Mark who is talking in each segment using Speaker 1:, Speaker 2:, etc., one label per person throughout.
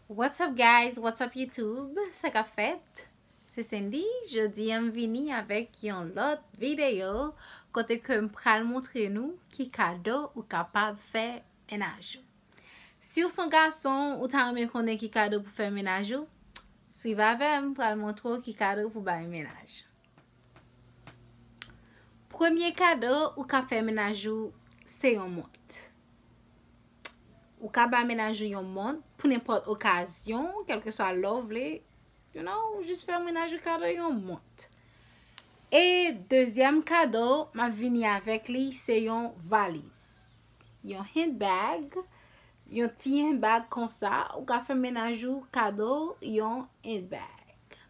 Speaker 1: What's up guys, what's up YouTube, sa ka fèt? Se Cindy, jodi an m vini avèk yon lòt videyo kote ke m pral montre nou ki kado ou kapab fè menaj ou. Si ou son gason, ou ta renmen konnen ki kado pou fè menaj ou? Swiv avè m, m pral montre ou ki kado pou bay menaj. Premye kado ou ka fè menaj ou se yon mont. Ou ka ba menaj ou yon mont pou nenpòt okazyon, kelke swa lè ou vle, you know, ou jis fè menaj ou kado yon mont. E dezyèm kado m ap vini avèk li se yon valiz. Yon hand bag, yon ti hand bag konsa, ou ka fè menaj ou kado yon hand bag.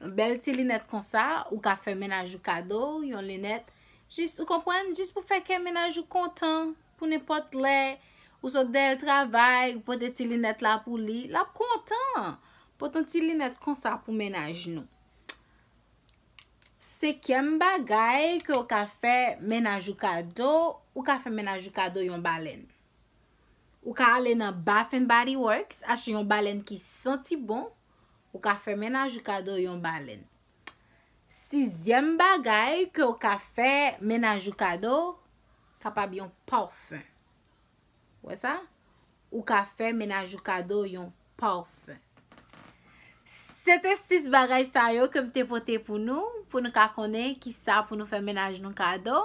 Speaker 1: Yon bèl ti linèt konsa, ou ka fè mennaj ou kado, yon linèt, jis, ou konprann, jis pou fè kè mennaj ou kontan, pou nenpòt lè, ou sot dèyè l travay, ou pote ti linèt la pou li, l ap kontan! Pote yon ti linèt konsa pou mennaj nou. Senkyèm bagay ke ou ka fè mennaj ou kado, ou ka fè mennaj ou kado yon balèn. Ou ka ale nan Bath and Body Works, achte yon balèn ki santi bon, Ou ka fè mennaj ou kado yon balèn. Sizyèm bagay ke ou ka fè mennaj ou kado, kapab yon parfum. Wè sa? Ou ka fè mennaj ou kado yon parfum. Se te 6 bagay sa yo ke m te pote pou nou, pou nou ka konnen ki sa pou nou fè mennaj nou kado.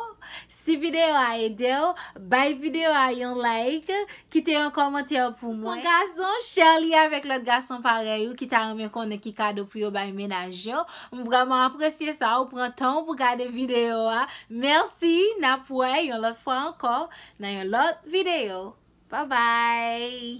Speaker 1: Si videyo a ede ou, bay videyo a yon like. Kite yon kòmantè pou mwen. Son gason, chèr li avèk lòt gason parèy ou ki ta renmen konnen ki kado pou yo bay mennaj yo. M vrèman apresye sa ou pran tan ou pou gade videyo a. Mèsi, n ap wè yon lòt fwa ankò nan yon lòt videyo. Babay!